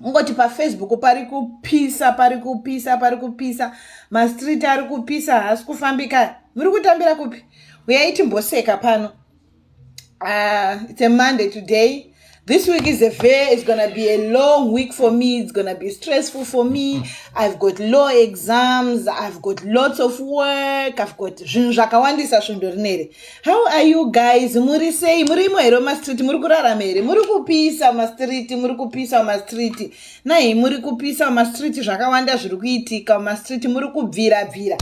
ungoti pafacebook pari kupisa pari kupisa pari kupisa mastreet ari kupisa haasi kufambika muri kutambira kupi uyai timboseka pano uh, it's a monday today this week is a very it's gonna be a long week for me it's gonna be stressful for me i've got law exams i've got lots of work i've got zvinhu zvakawandisa svondo rineri How are you guys? Muri sei? Muri imo here mumastreet? Muri kurarama here? Muri kupisa mumastreet? Muri kupisa mumastreet? Nai, muri kupisa mumastreet zvakawanda zviri kuitika mumastreet. Muri kubvira bvira.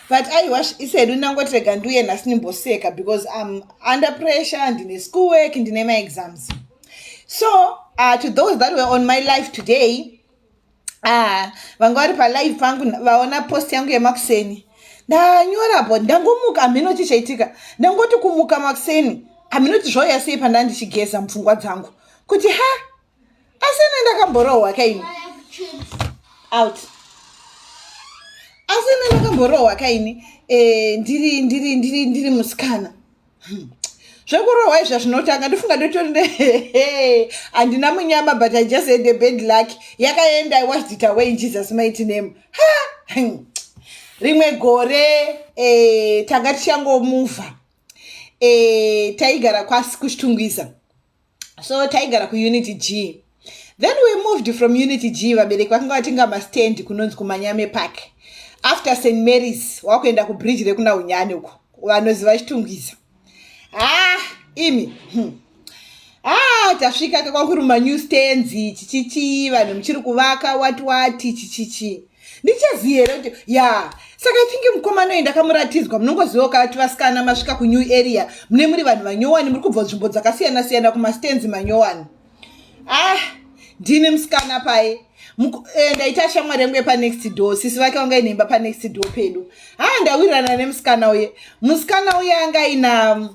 But I wash isedu ndangoti rega nduye nhasi ndimboseka because I'm under pressure ndine school work ndine maexams. So, uh, to those that were on my life today, ah, vanga vari palive pangu vaona post yangu yemakuseni ndanyora bo ndangomuka hamheno chi chaitika ndangoti kumuka makuseni hamheno ti zvauya sei pandaa ndichigeza mupfungwa dzangu kuti ha asi ine ndakamborohwa kaini out asi ine ndakamborohwa kaini e, ndiri ndiri ndiri ndiri musikana Hmm. zvekurohwa izva zvinotanga ndofunga ndotori ne handina munyama but i just had a bad luck yakaenda i washed it away in jesus mighty name ha hmm. rimwe gore eh, tanga tichangomuvha eh, taigara kwasi kuchitungwiza so taigara kuunity g then we moved from unity g vabereki vakanga vatenga mastand kunonzi kumanyame park after st marys wakuenda kubridge rekuna unyani uko vanoziva chitungwiza haa ah, imi hmm. haa ah, tasvika kakwakuruma new stands chichichii vanhu muchiri kuvaka wati wati chichichii ndichazii here kuti ya saka i think mukomana uyu ndakamuratidzwa munongoziva ukati vasikana masvika kunew area mune muri vanhu vanyowani muri kubva nzvimbo dzakasiyana siyana kumastands manyowani ah ndine musikana paye eh, ndaita shamwari yangu yepanext door sisi vake vanga inemba panext door pedu ha ah, ndawirirana nemusikana uye musikana uye anga ina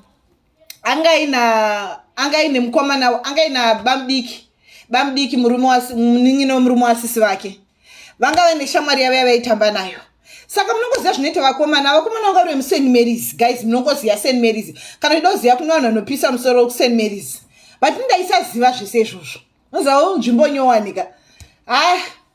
anga aina anga aine mukomana anga aina bamdiki bamdiki murume wamunin'ina wemurume wasisi vake vanga vaine shamwari yavo yavaitamba nayo saka munongoziva zvinoita vakomana vakomana vanga vari vemusaint marys guys munongoziva saint marys kana uchida kuziva kune vanhu vanopisa musoro kusaint marys but ndaisaziva zvese izvozvo noziva nzvimbo nyowanika haa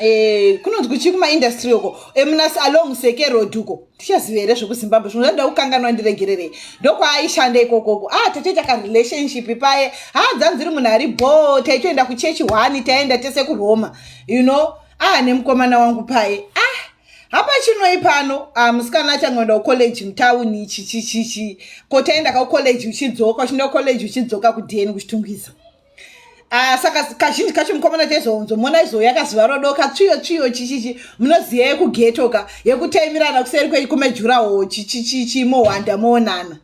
Eh, kunonzwi chii kumaindastry uko emunasi eh, along seke road uko tichaziva here zvekuzimbabwe zvino zvandoda kukanganwa ndiregererei ndokwaaishanda ikokoko a ah, tete takarelationship paye ha ah, dzanziri munhu ari bho taitoenda kuchechi one taenda tese kuroma you know a ah, nemukomana wangu paye a hapa chinoi pano ah, musikana achangoenda kucollege mutauni ichi chichichi ko taenda kakucollege uchidzoka uchinda kucollege uchidzoka kudeni kuchitungwiza Ah, saka kazhinji kacho mukomana chaizonzo mona izo yakaziva rodoka tsviyo tsviyo chichichi munoziva yekugetoka yekutaimirana kuseri kwekumejurawo chichichichi mohwanda moonana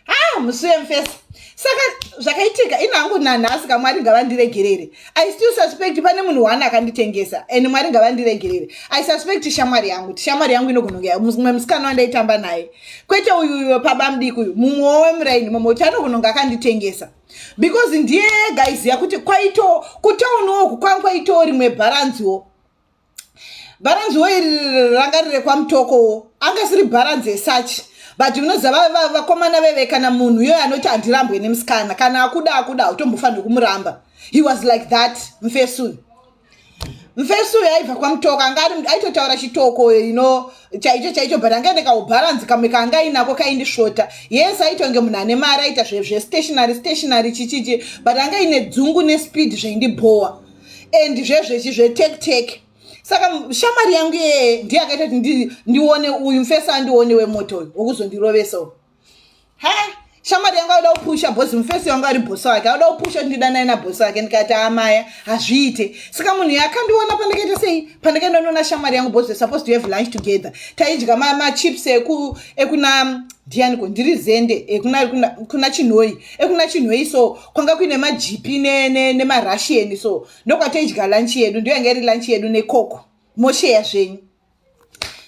ha ah, musuye mfesa saka zvakaitika ini hangu nanhasi ka mwari ngavandiregerere i still suspect pane munhu wani akanditengesa and mwari ngavandiregerere i suspect shamwari yangu ti shamwari yangu inogonongea mumwe musikana wandaitamba naye kwete uyuyo pabamdiki uyu mumwe wemuraini mumwe uti anogononga akanditengesa because ndiye ega aiziva kuti kwaito kutauniwo uku kwanga kwaitawo rimwe bharanziwo bharanziwo iri ranga riri kwamutokowo anga siri bharanzi esachi but unoziva vakomana veve kana munhu iyoyo anoti handirambwe nemusikana kana akuda akuda hautombofanirwi kumuramba he was like that mfesuni mfesi uyo aibva kwamutoka anga aitotaura chitoko ino chaicho chaicho but anga ende kaubharanzi kamwe kaanga ainako kaindisvota yes aitonge munhu ane mari aita zvestationary stationary chichichi but anga ine dzungu nespeed zvaindibhowa and zvezvechi zvetectec saka shamari yangu iyeye ndiye akaita kuti ndione uyu mfesi andione wemoto uyu wokuzondirovesawo Hey! shamwari yangu aoda kupusha bhosi mufesi wangu ari bhosi wake aoda kupusha kuti ndidanai nabhosi wake ndikati amaya hazviite saka munhu yakandiona pandakaita sei pandakaenda ndiona shamwari yangu bhosi supposed to have lunch together taidya machips eku ekuna ndiyaniko ndiri zende ekuna kuna, kuna chinhoi ekuna chinhoi so kwanga kuine majipi nemarushian ne, ne so ndokwataidya lunch yedu ndiyo yanga iri lunch yedu nekoko mosheya zvenyu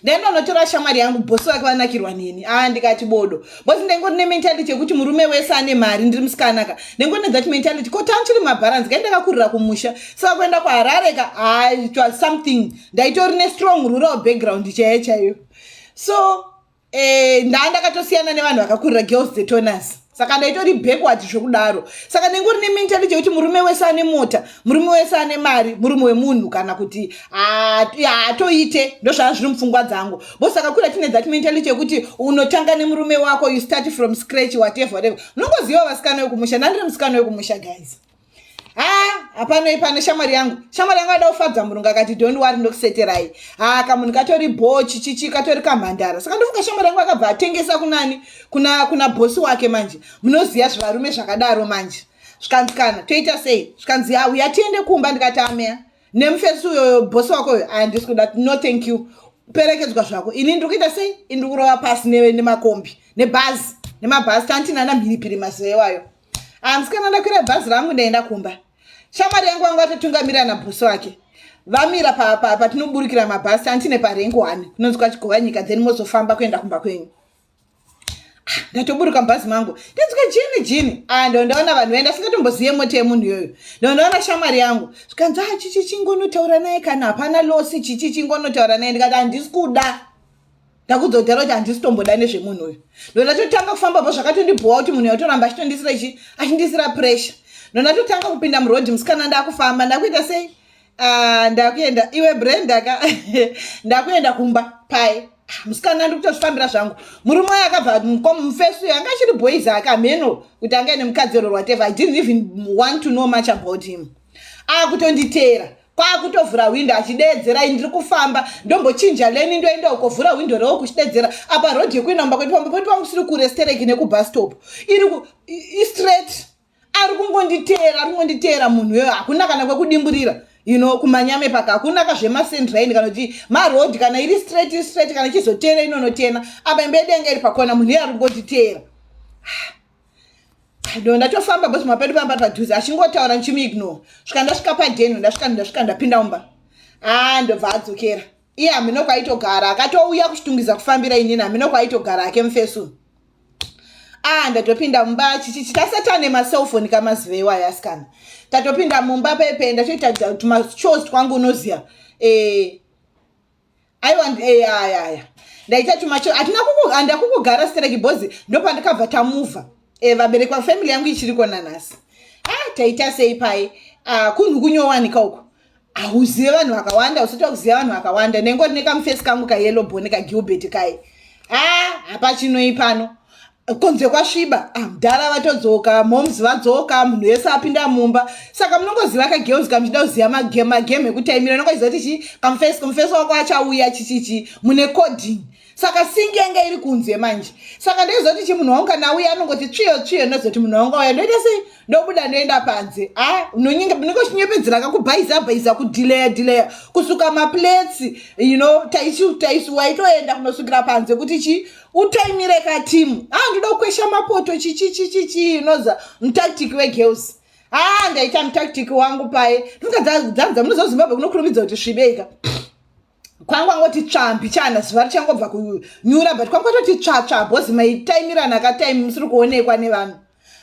ndendonotora shamwari yangu bosi vake vanakirwa neni a ah, ndikati bodo bosi ndengori nementality yekuti murume wese ane mari ndiri musikanaka ndengori nethat mentality ko tan chiri mabharanzi kai ndakakurira kumusha saka kuenda kuharare ka ah, it was something ndaitori nestrong rural background chaiyo chaiyo so Eh, ndaa ndakatosiyana nevanhu vakakurira girls dzetonus saka ndaitori backward zvekudaro saka ndenge uri nementality yekuti murume wese ane mota murume wese ane mari murume wemunhu kana kuti haatoite ndozvaa zviri mupfungwa dzangu bo saka kura tine that mentality yekuti unotanga nemurume wako you start from scratch whatever whatever unongoziva vasikana wekumusha ndandiri musikana wekumusha guys haa hapana ipana shamwari yangu shamwari yangu ada kufadza murungu akati don't wari ndokuseterai haa kamunhu katori bho chichichi katori kamhandara saka ndofunga shamwari yangu akabva atengesa kunani kuna kuna bhosi wake manje munoziva zvivarume zvakadaro manje zvikanzi kana toita sei zvikanzi ya uya tiende kumba ndikati ameya nemufesi uyoyo bhosi wako uyo aya ndisi kuda no thank you perekedzwa zvako ini ndiri kuita sei ini ndiri kurova pasi nemakombi nebhazi nemabhazi tantinana mhiripiri mazewayo hanzi kana ndakwira bhazi rangu ndaenda kumba shamwari yangu vanga vatotungamira nabhusi wake vamira patinoburikira mabhasi antine parengi one kunonzwa chigova nyika then mozofamba kuenda kumba kwenyu ah, ndatoburuka mubhazi mangu ndinzwa jini jini ah, ndo ndaona vanhu vaenda singatombozive mota yemunhu iyoyo ndo ndaona shamwari yangu zvikanzi a ah, chichi chingonotaura naye kana hapana losi chichi chingonotaura naye ndikati handisi kuda ndakuudza kudaro kuti handisi tomboda nezvemunhu uyu ndondatotanga kufamba bva zvakatondibhowa kuti munhu yautoramba achitondisira ichi achindisira pressure ndondatotanga kupinda muroad musikana ndakufamba ndakuita sei ah, ndakuenda iwe brenda ka ndakuenda kumba pai ah, musikana ndikutozvifambira zvangu murume wayo akabva mufesi uyo anga achiri boys aka mheno kuti anga ine mukadzi oro whatever i didn't even want to know much about him akutonditeera kwakutovhura hwindo achideedzera i ndiri kufamba ndombochinja leni ndoenda uko vhura hwindo rewo kuchideedzera apa road yekuenda mumba kwedu pamba poti pakusiri kurestereki nekubustop iri istraight ari kungonditeera ari kungonditeera munhu iyoyo hakuna kana kwekudimburira you know kumanyame paka hakuna ka zvemasendraini kana kuti maroad kana iri straight iri straight kana ichizoteera inonotena apa imba yedenga iri pakona munhu iye ari kungonditeera ndo ndatofamba bos mapedu pamba padhuze achingotaura ndichimuignore svika ndasvika padeno ndasvika ndasvika ndapinda umba haa ah, ndobva adzokera iye hamino kwaitogara akatouya kuchitungiza kufambira inini hamino kwaitogara ake mufesu aa ah, ndatopinda mumba chichichi tasatane macellphone kamaziva iwayo asikana tatopinda mumba pepe ndatoita tumachos twangu unoziva e, eh, aiwa ndi- eh, ya ya ya ndaita chuma cho hatina kuku- handa kukugara stereki bhozi ndopandakabva tamuva Eh, vabereki vafamily yangu ichiriko nanhasi ah taita sei pai ah, kunhu kunyowanika uko hauzive vanhu vakawanda usati wakuziva vanhu vakawanda nengori nekamufesi kangu kayellow bone kagilbert kai ah hapachinoi pano konze kwasviba ah, mdhara vatodzoka moms vadzoka munhu wese apinda mumba saka munongoziva kagirls kamuchida kuziva magame ekuti aimira nongoziva kuti chii kamufesi kamufesi wako achauya chichichi mune coding saka singi yanga iri kunze manje saka ndoiziva kuti chi munhu wangu kana auya anongoti tsviyo tsviyo ndozoti munhu wangu auya ndoita sei ndobuda ndoenda panze a ah, munenge chinyepedzera ka kubhaiza bhaiza kudileya dileya kusuka maplates you know taisiwaitoenda kunosukira panze kuti chi utaimire ka timu haa ndoda kukwesha mapoto chichichichichi unoza mutactic wegirls haa ndaita mutactic wangu paye ndinga dzanza munoziva zimbabwe kunokurumidza kuti svibeika kwangu angoti tsvambi chana zuva richangobva kunyura but kwangu atoti tsvatsva bhozi maitaimirana kataimi musiri kuonekwa nevanhu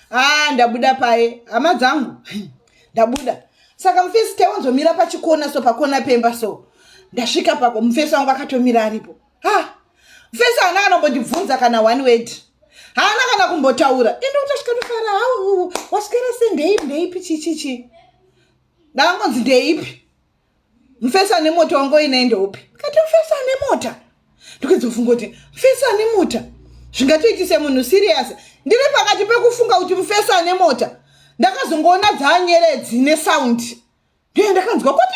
haa ndabuda paye hama dzangu ndabuda saka mufesi taiwanzomira pachikona so pakona pemba so ndasvika pako mufesi wangu akatomira aripo ha mfesi haana kana kumbondibvunza kana one word haana kana kumbotaura ende utasvika tofara hau waswera se ndeipi ndeipi chichichi ndaangonzi ndeipi mfesi ane mota wangu oinei ndeupi kati mfesi ane mota ndikuzofunga kuti mfesi ane mota zvingatoitise munhu serious ndiri pakati pekufunga kuti mfesi ane mota ndakazongoona dzaanyeredzi nesaundi ndiye ndakanzwa kuti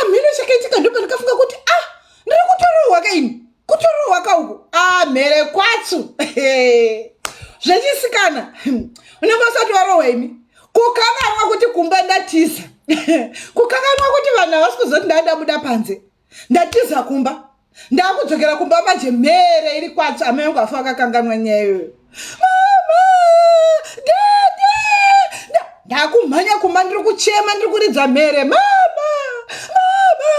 amheno chakaitika ndopandikafunga kuti a ah, ndiri kutorohwa ka ini kutorohwa ka uku amhere ah, kwatsu zvechisikana unenge usati warohwa imi kukanganwa kuti kumba ndatiza kukanganwa kuti vanhu havasi kuzoti ndadabuda panze ndatiza kumba ndakudzokera kumba manje mhere iri kwatsva amai angu afa akakanganwa nyaya iyoyo mama dede ndakumhanya kumba ndiri kuchema ndiri kuridza mhere mama mama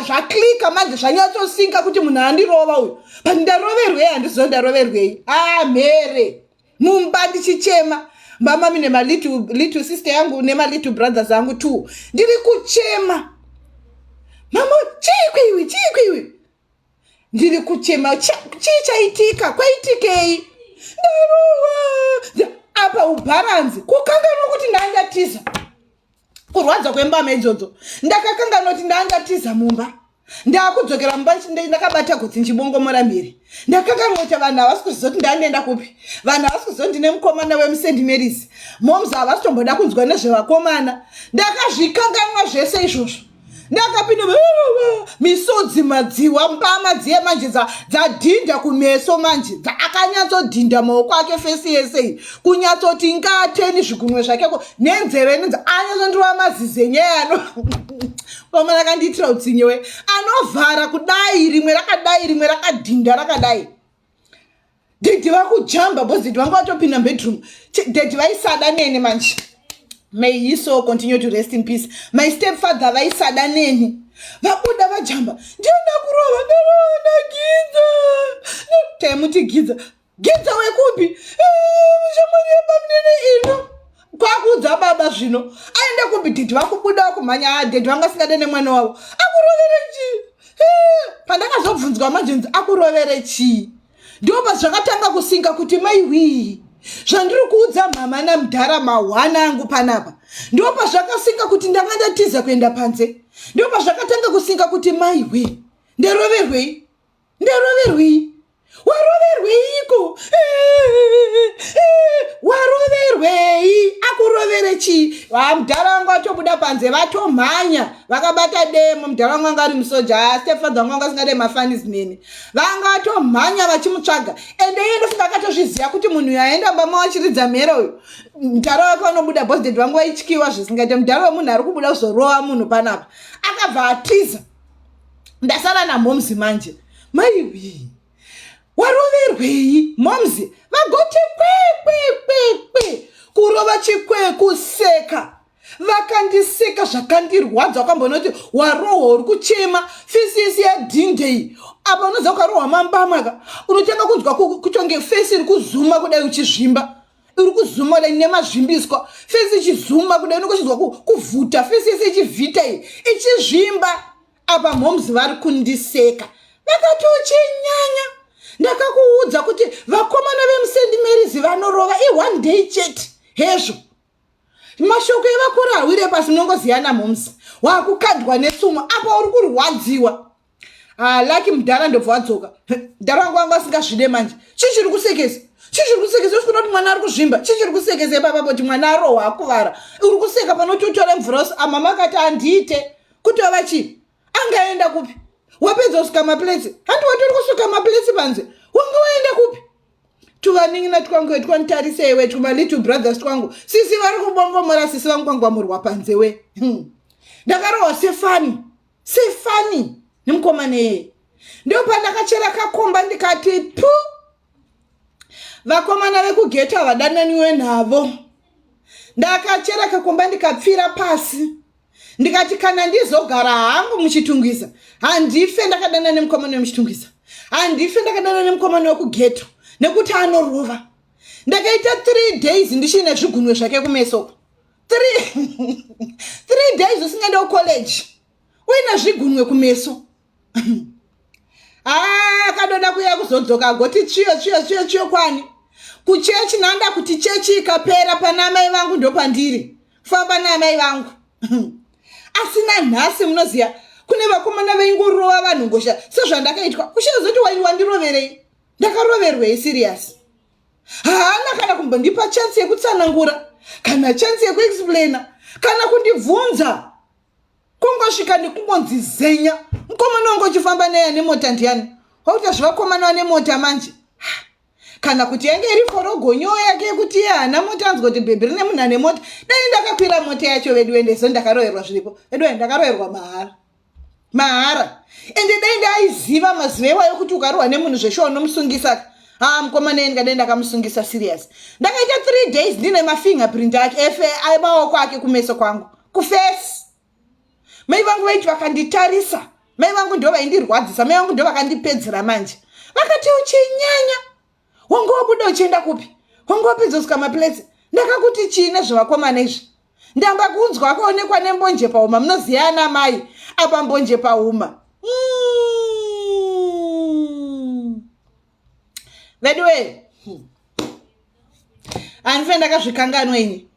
zvaklika manje zvanyatsosinga kuti munhu andirova uyu but ndaroverwei handiziva ndaroverwei a ah, mhere mumba ndichichema mamami nemalittle little sister yangu nemalittle brothers angu two ndiri kuchema mama chii kwiwi chii kwiwi ndiri kuchema chii chaitika kwaitikei ndarowa apa ubharanzi kukanganwa kuti ndaindatiza kurwadza kwembama idzodzo ndakakanganwa kuti ndaangatiza mumba ndaakudzokera mumba ndakabata gotsi ndichibongomora mhiri ndakakanwa kuti vanhu havasi kuziva kuti ndandienda kupi vanhu havasi kuziva kuti ndine mukomana wemusend marys moms havasi tomboda kunzwa nezvevakomana ndakazvikanganwa zvese izvozvo ndakapinda misodzi madziwa mbama dziye manje dzadhinda kumeso manje dzakanyatsodhinda maoko ake fesi yese kunyatsoti ngateni zvigunwe zvakeko nenzeve nenze anyatsondirova mazize nyeyano pamwe rakandiitira utsinyewe anovhara kudai rimwe rakadai rimwe rakadhinda rakadai Daddy vakujamba because daddy vanga vatopinda mubedroom. Ch- Daddy vaisada neni manje. May he so continue to rest in peace. My stepfather vaisada neni. Vabuda vajamba. Ndiye ndakurova ndaona gidza. Na- Taimuti gidza. Gidza wekupi? "Eh, Shamwari yebamnene ino. Kwakuudza baba zvino. Aenda kupi daddy vakubuda vakumhanya. Ah, daddy vanga singade nemwana wavo. Akurovere chii? Eh, Pandakazobvunzwa manje nzi akurovere chii? ndiwo pazvakatanga kusinga kuti mai hwii zvandiri kuudza mhama namudhara mahwana angu panapa ndiwo pazvakasinga kuti ndanga ndatiza kuenda panze ndiwo pazvakatanga kusinga kuti mai hwii nderoverwei nderoverwei waroverweiko waroverwei akurovere chii mudhara wangu atobuda panze vatomhanya vakabata demo mudhara wangu anga ari musoja stepfather wangu anga asingade mafanis nini vanga vatomhanya vachimutsvaga ende iye ndofunga akatozviziva kuti munhu uyo aenda bama wachiridza mhere uyu mudhara wake vanobuda bosded vangu vaityiwa zvisingaite mudhara wemunhu ari kubuda kuzorova munhu panapa akabva atiza ndasara namomzi manje maiwii waroverwei momzi vagoti kwekwekwe kurova chikwekuseka vakandiseka zvakandirwadza wakambonoti warohwa uri kuchema fesi yese yadhindei apa unoziva ukarohwa mambamaka unotanga kunzwa kutonge fesi iri kuzuma kudai uchizvimba iri kuzuma kudai nemazvimbiswa fesi ichizuma kudai unokuchinzwa kuvhuta fesi yese ichivhita iyi ichizvimba apa moms vari kundiseka vakatochinyanya ndakakuudza kuti vakomana vemusendi merizi vanorova i one day chete hezvo mashoko evakuru hawire pasi munongoziyana moms wakukandwa netsumo apa uri kurwadziwa ah, laki mudhara ndobva wadzoka mudhara wangu wangu asingazvide manje chii chiri kusekesa chii chiri kusekesa usikuda kuti mwana ari kuzvimba chii chiri kusekesa ipapa kuti mwana arohwa akuvara uri kuseka panoti utore mvura usi amama ah, akati handiite kutova chii angaenda kupi wapedza kusuka maplesi handi watori kusuka maplesi panze wanga waenda kupi tuvanin'ina twangu hetwanditarisa iwe twumalittle brothers twangu sisi vari kubongomora sisi vangukwangwamurwa panze we hmm. ndakarohwa sefani sefani nemukomana iyeye ndo pandakachera kakomba ndikati pu vakomana vekugeta vadananiwe navo ndakachera kakomba ndikapfira pasi ndikati kana ndizogara hangu muchitungwiza handife ndakadana nemukomana wemuchitungwiza handife ndakadana nemukomana wekugeto nekuti anorova ndakaita three days ndichiine zvigunwe zvake kumeso three days usingade kucollege uine zvigunwe kumeso haa akadoda kuya kuzodzoka agoti tsviyo tsviyo tsviyo tsviyo kwani kuchechi nanda kuti chechi ikapera pana amai vangu ndopandiri famba naamai vangu asina nhasi munoziva kune vakomana vaingorova vanhu ngosha sezvandakaitwa kushazoti waini wandiroverei ndakaroverwei siriyasi haana kana kumbondipa chansi yekutsanangura kana chansi yekuexplaina kana kundibvunza kungosvika nekungonzi zenya mukomana wangu uchifamba naye ane mota ndiyani wakuita zvevakomana vane mota manje kana kuti yange iri forogonyo yake yekuti iye haana mota anzwa kuti bhebhi rine munhu ane mota dai ndakakwira mota yacho vedu ende so ndakaroerwa zviripo vedu ende ndakaroerwa mahara mahara ende dai ndaiziva mazuva iwayo kuti ukarohwa nemunhu zveshuwa unomusungisa ka haa mukoma nei ndikadai ndakamusungisa serious ndakaita three days ndine mafingerprint ake efe maoko ake kumeso kwangu kufesi mai vangu vaiti vakanditarisa mai vangu ndo vaindirwadzisa mai vangu ndo vakandipedzera manje vakati uchinyanya wange wabuda uchienda kupi wange wapedza kusika maplace ndakakuti chii nezvevakomana izvi ndamba kunzwa akaonekwa nembonje pahuma munoziva ana mai apa mbonje pahuma mm. veduwe handife ndakazvikanganwa ini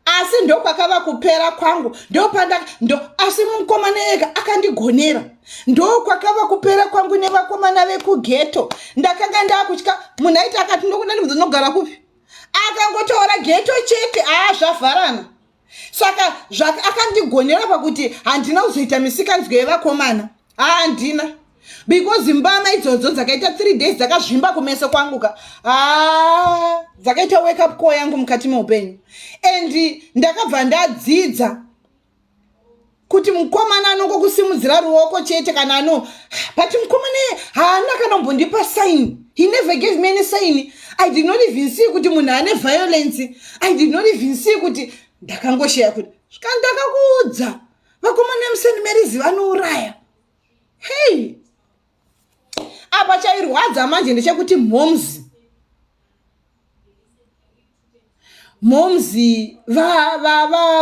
asi ndokwakava kupera kwangu ndopanda ndo asi mukomana ega akandigonera ndokwakava kupera kwangu nevakomana vekugeto ndakanga ndakutya munhu aiti akati ndokuda ndibvunza unogara kupi akangotaura geto chete aa zvavharana saka akandigonera pakuti handina kuzoita misikanzwa yevakomana haandina because mbama idzodzo dzakaita three days dzakazvimba kumeso kwangu ka haa dzakaita wake up call yangu mukati meupenyu and ndakabva ndadzidza kuti mukomana anongokusimudzira ruoko chete kana ano but mukomana haana kana kumbondipa sign he never gave me any sign i did not even see kuti munhu ane violence i did not even see kuti ndakangosheya kuti svika ndakakuudza vakomana emuseni merizi vanouraya hei apa chairwadza manje ndechekuti moms moms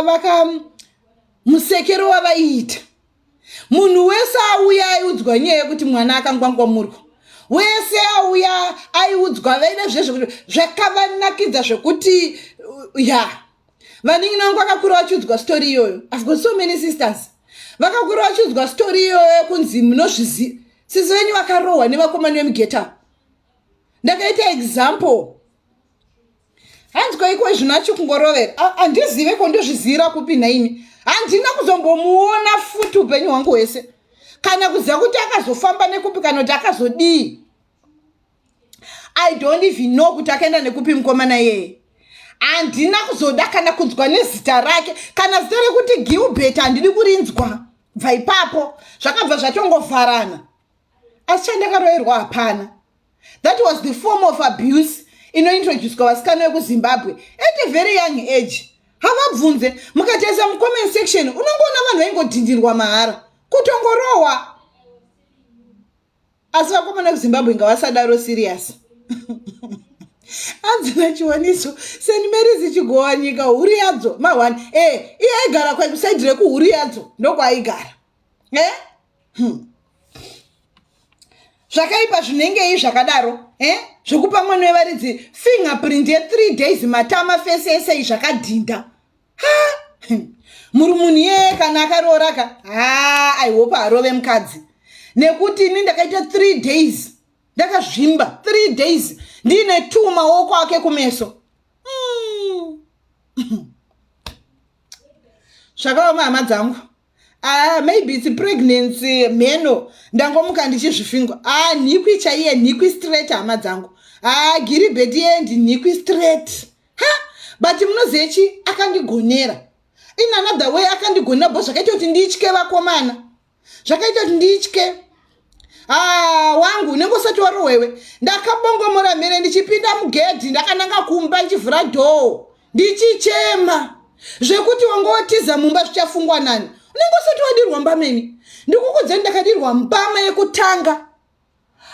vaka musekero wavaiita munhu wese auya aiudzwa nyaya yekuti mwana akangwangwamurwa wese auya aiudzwa vaine zvezvekuti zvakavanakidza zvekuti uh, ya vaningi nangu vakakura vachiudzwa story iyoyo i've got so many sisters vakakura vachiudzwa story iyoyo yekunzi munozvizi sisi venyu vakarohwa nevakomani vemugeta ndakaita example hanzi koiko izvino achikungorover handizive ko ndozvizivira kupi nhaimi handina kuzombomuona futi upenyu hwangu hwese kana kuziva kuti akazofamba nekupi kana kuti akazodii i don't even know kuti akaenda nekupi mukomana yeye handina kuzoda kana kunzwa nezita rake kana zita rekuti gilbert handidi kurinzwa bva ipapo zvakabva zvatongovharana asi chandakaroerwa hapana that was the form of abuse inointroducwa vasikana vekuzimbabwe at a very young age havabvunze mukatesa mucomment section unongoona vanhu vaingodhindirwa mahara kutongorohwa asi vakomana vekuzimbabwe ngavasadaro serious anzina chiwaniso seni meri zichigowa nyika huri yadzo mahwani e eh, iye aigara kwaikusaidi rekuhuri yadzo ndokwaaigara e eh? hmm. zvakaipa zvinengei zvakadaro eh? zvekupa mwana wevaridzi fingerprint yethree days matama fese ese i zvakadhinda ha hmm. muri munhu iyeye kana akarooraka ha i hope arove mukadzi nekuti ini ndakaita three days ndakazvimba three days ndiine two maoko ake kumeso hmm. zvakaoma hama dzangu Ah, maybe it's pregnancy mheno ndangomuka ndichizvifingwa ah, nhikwi chaiye nhikwi straight hama dzangu ah, giribheti yendi nhikwi straight ha but munozive chi akandigonera in another way akandigonera bo zvakaita kuti nditye vakomana zvakaita kuti nditye haa wangu unenge usati warohwewe ndakabongomora mhere ndichipinda mugedhi ndakananga kumba ndichivhura dhoo ndichichema zvekuti wanga watiza mumba zvichafungwa nani unenge usati wadirwa mbameni ndikukudzeni ndakadirwa mbama yekutanga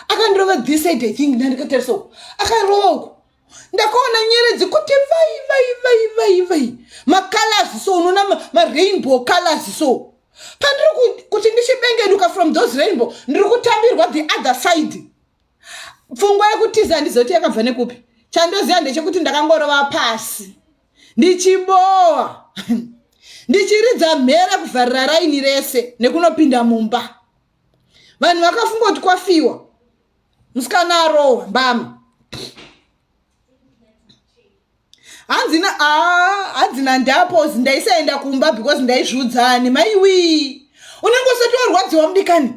akandirova this side i think ndandikatarisa uku akarova uku ndakaona nyeredzi kuti vai vai vai vai vai macolors so unoona marainbow colors so pandiri kuti ndichibengenuka from those rainbow ndiri kutambirwa the other side pfungwa yekutiza handizoti yakabva nekupi chandoziva ndechekuti ndakangorova pasi ndichibowa ndichiridza mhere kuvharira raini rese nekunopinda mumba vanhu vakafunga kuti kwafiwa musikana arohwa mbama hanzi na ah, hanzi nandapozi ndaisaenda kumba because ndaizviudzani maiwii unenge usati warwadziwa mudikani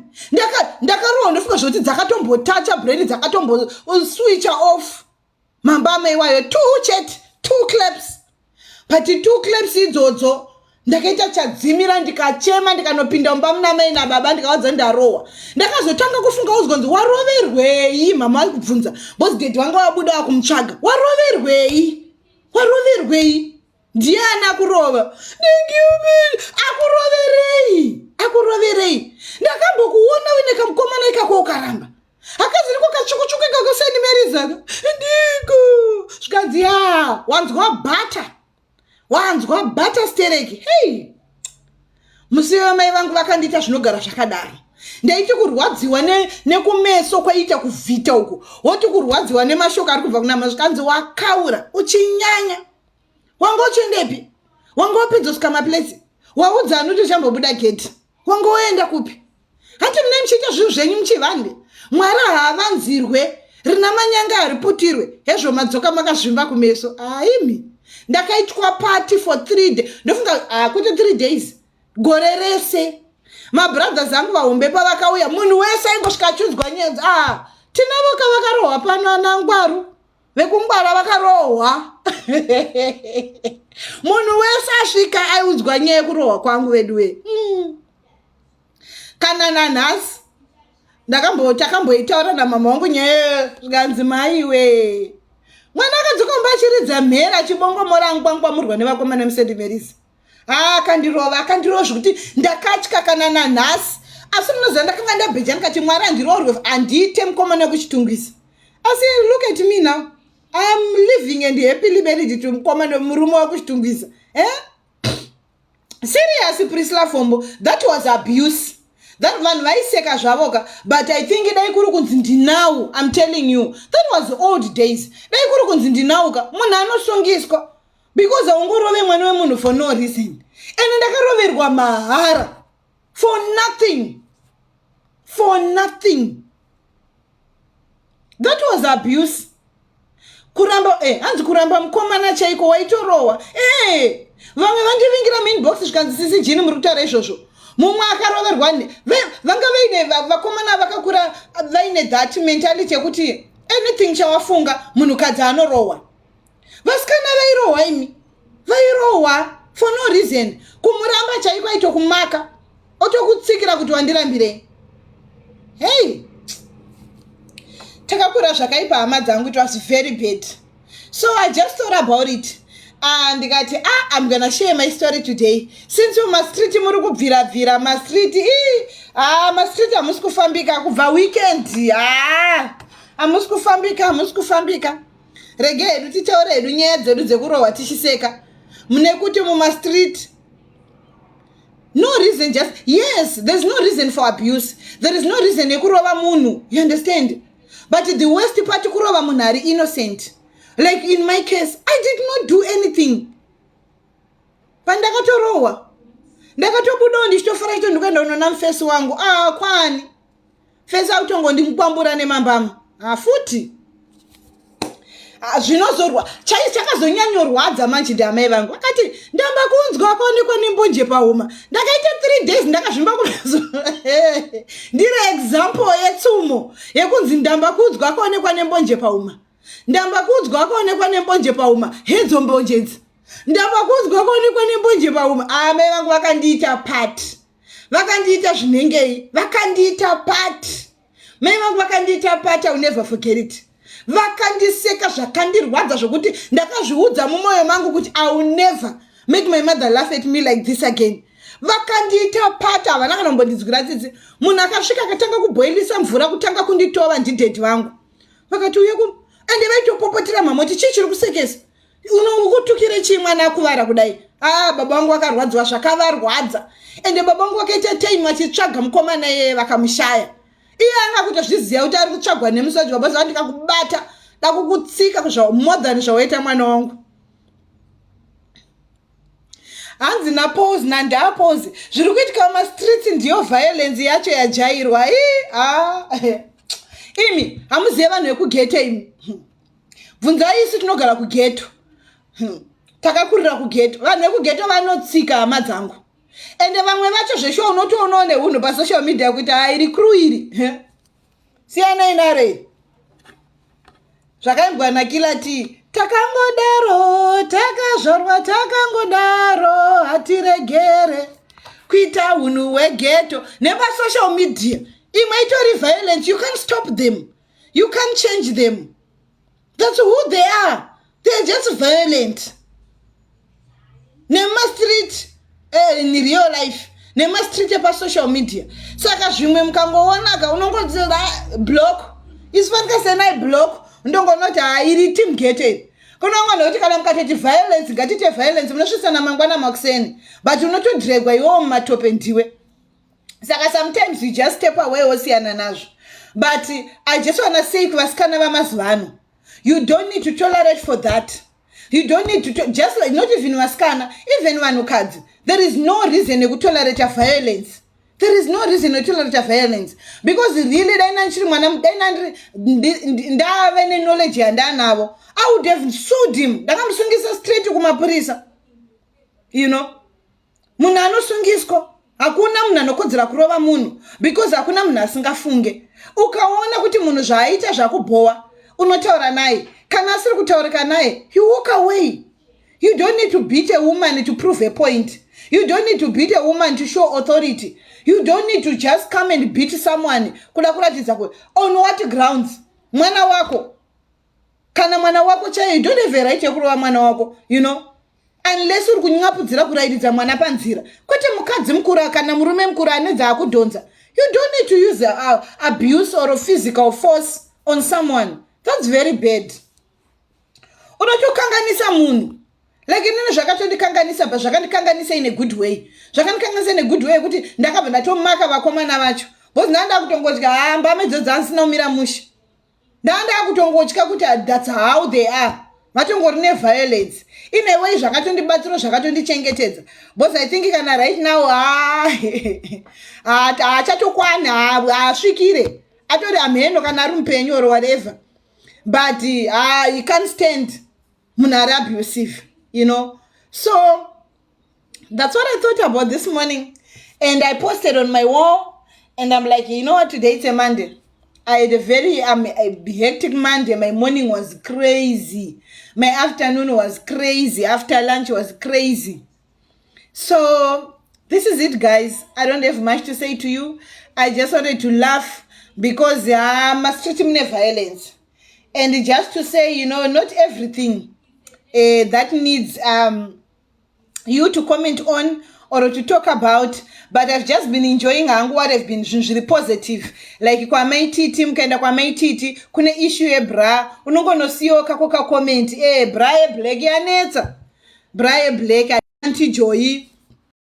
ndakarohwa ndofunga zvekuti dzakatombotacha brain dzakatomboswicha off mambama iwayo two chete two claps but two claps idzodzo ndakaita chadzimira ndikachema ndikanopinda mumba muna mai nababa ndikawadza ndarohwa ndakazotanga kufunga uzgonzi waroverwei mama vari kubvunza bcause dedi vanga vabuda vakumutsvaga waroverwei waroverwei ndiani akurova akuroverei akuroverei ndakambokuona uine kamukomana ikako ukaramba akaziriko kachukuchuku ikako seni merizaka ndiko zvikanzi ya wanzwa bhata wanzwa bhata stereki hei musi vamai vangu vakandiita zvinogara zvakadaro ndaiti kurwadziwa nekumeso ne kwaiita kuvhita uku woti kurwadziwa nemashoko ari kubva kunama zvikanzi wakaura uchinyanya wanga uchiendepi wanga wapedzosvika maplace waudza anoto chambobuda geti wanga woenda kupi hanti mune muchiita zvinhu zvenyu muchivande mwari haavanzirwe rina manyanga hariputirwe hezvo madzoka makazvimba kumeso aimi ndakaitwa party for three day ndofunga hakuti ah, three days gore rese mabrothers angu vahombe pavakauya munhu wese aingosvika achiudzwa nyenzi a ah, tinavo ka vakarohwa pano anangwaru vekungwara vakarohwa munhu wese asvika aiudzwa nyaya yekurohwa kwangu veduwe mm. kana nanhasi ndakambotakamboitaura namama wangu nyaya zvikanzi maiwe mwana akadzoka mumba achiridza mhera achibongomora angwangwamurwa nevakomana musendimerisi haa akandirova akandirova zvekuti ndakatya kana nanhasi asi munoziva ndakanga ndabheja ndikati mwari andiroorwe handiite mukomana wekuchitungisa asi look at me now iam living and happily married to mukomana murume wekuchitungisa e eh? serious prisla fombo that was abuse that vanhu vaiseka zvavo ka but i think dai kuri kunzi ndinawu im telling you that was old days dai kuri kunzi ndinawu ka munhu anosungiswa because haungorove mwana wemunhu for no reason and ndakaroverwa mahara for nothing for nothing that was abuse kuramba eh, hanzi kuramba mukomana chaiko waitorohwa eh, vamwe vandivingira mainbox zvikanzi sisi jini muri kutaura izvozvo mumwe akaroverwa vanga vaine vakomana vakakura vaine that mentality yekuti anything chawafunga munhukadzi anorohwa vasikana vairohwa imi vairohwa for no reason kumuramba chaiko aitokumaka otokutsikira kuti wandirambirei hei takakura zvakaipa hama dzangu it was very bad so i just thought about it ah, ndikati ah, im gonna share my story today since u mastriti muri kubvirabvira mastriti ii ah, mastriti hamusi kufambika kubva weekend ah, hamusi kufambika hamusi kufambika rege hedu titaure hedu nyaya dzedu dzekurohwa tichiseka mune kuti mumastreet no reason just yes there's no reason for abuse there is no reason yekurova munhu you understand but the worst part kurova munhu ari innocent like in my case i did not do anything pandakatorohwa ndakatobudawo ndichitofara chito ndikuenda unona mufesi wangu a ah, kwani fesi autongondimupambura nemambama hafuti ah, zvinozorwa chai chakazonyanyorwadza manje ndiamai vangu vakati ndamba kunzwa kwaonekwa nembonje pahuma ndakaita three days ndakazvimba kunazo ndiri example yetsumo yekunzi ndamba kunzwa kwaonekwa nembonje pahuma ndamba kunzwa kwaonekwa nembonje pahuma hedzo mbonje idzi ndamba kunzwa kwaonekwa nembonje pahuma amai ah, vangu vakandiita pati vakandiita zvinengei vakandiita pat mai vangu vakandiita pat au never forget it vakandiseka zvakandirwadza zvokuti ndakazviudza mumwoyo mangu kuti au never make my mother laugh at me like this again vakandiita pat havana kana kumbondinzwira tsitsi munhu akasvika akatanga kuboilisa mvura kutanga kunditova ndidhedhi vangu vakati uye ku ende vaitopopotera mamoti chii chiri kusekesa unokutukire chii mwana akuvara kudai aa ah, baba vangu vakarwadziwa zvakavarwadza ende baba vangu vakaita time vachitsvaga mukomana iyeye vakamushaya iye anga kutozviziva kuti ari kutsvagwa nemusoji baba zava ndikakubata dakukutsika more than zvawaita mwana wangu hanzi napose nandapose zviri kuitika mumastreets ndiyo violence yacho yajairwa i a ah, imi hamuzive vanhu vekugete imi bvunzai isu tinogara kugeto hmm. takakurira kugeto vanhu vekugeto vanotsika hama dzangu ende vamwe vacho zveshuwa unotoonawo neunhu pasocial media kuti haa iri crew iri siyanai narei zvakaimbwa nakila ti takangodaro takazvarwa takangodaro hatiregere kuita unhu hwegeto nepasocial media imwe itori violence you can't stop them you can't change them that's who they are they're just violent nemastreet eh, in real life nemastreet epasocial media saka zvimwe mukangoonaka unongodzira block isu pandikasenai block ndongonoti hairi team gated kunongona kuti kana mukatoti violence ngatite violence munosvisana mangwana makuseni but unotodregwa iwowo mumatope ndiwe saka sometimes you just step away wosiyana nazvo but i just wanna say kuvasikana vamazuva ano you don't need to tolerate for that you don't need to just like not even vasikana even vanhukadzi there is no reason yekutolerata violence there is no reason yekutolerata violence because really dai nanchiri mwana dai nandiri ndave neknowledge yandanavo i would have sued him ndakamusungisa straight kumapurisa you know munhu anosungiswa hakuna munhu anokodzera kurova munhu because hakuna munhu asingafunge ukaona kuti munhu zvaaita zvakubhowa unotaura naye kana asiri kutaurika naye you walk away you don't need to beat a woman to prove a point you don't need to beat a woman to show authority you don't need to just come and beat someone kuda kuratidza kuti on what grounds mwana wako kana mwana wako chaiye you don't have a right yekurova mwana wako you know unless uri kunyapudzira kurairidza mwana panzira kwete mukadzi mukuru kana murume mukuru ane dzaakudhonza you don't need to use uh, abuse or physical force on someone thats very bad unotokanganisa munhu like inini zvakatondikanganisa but zvakandikanganisa in a good way zvakandikanganisa in a good way kuti ndakabva ndatomaka vakomana vacho bcause ndaa ndakutongodya hamba medzo dzaasina kumira mushe ndandakutongotya kuti thats how they are vatongori neviolence in a way zvakatondibatsiro zvakatondichengetedza bcause i think kana right now haachatokwana haasvikire atori amheno kana ari mupenyu or whatever but uh, he can't stand munhu ari abusive you know so that's what i thought about this morning and i posted on my wall and i'm like you know what today it's a monday i had a very um, a hectic monday my morning was crazy my afternoon was crazy after lunch was crazy so this is it guys i don't have much to say to you i just wanted to laugh because ah, masichiti mune violence and just to say you know not everything uh, that needs um, you to comment on or to talk about but i've just been enjoying hangu what have been zvinhu zviri positive like kwamaititi mukaenda kwamaititi kune issue yebra unongonosiyawo kako kacomment e eh, bra yeblack yanetsa bra yeblack antijoyi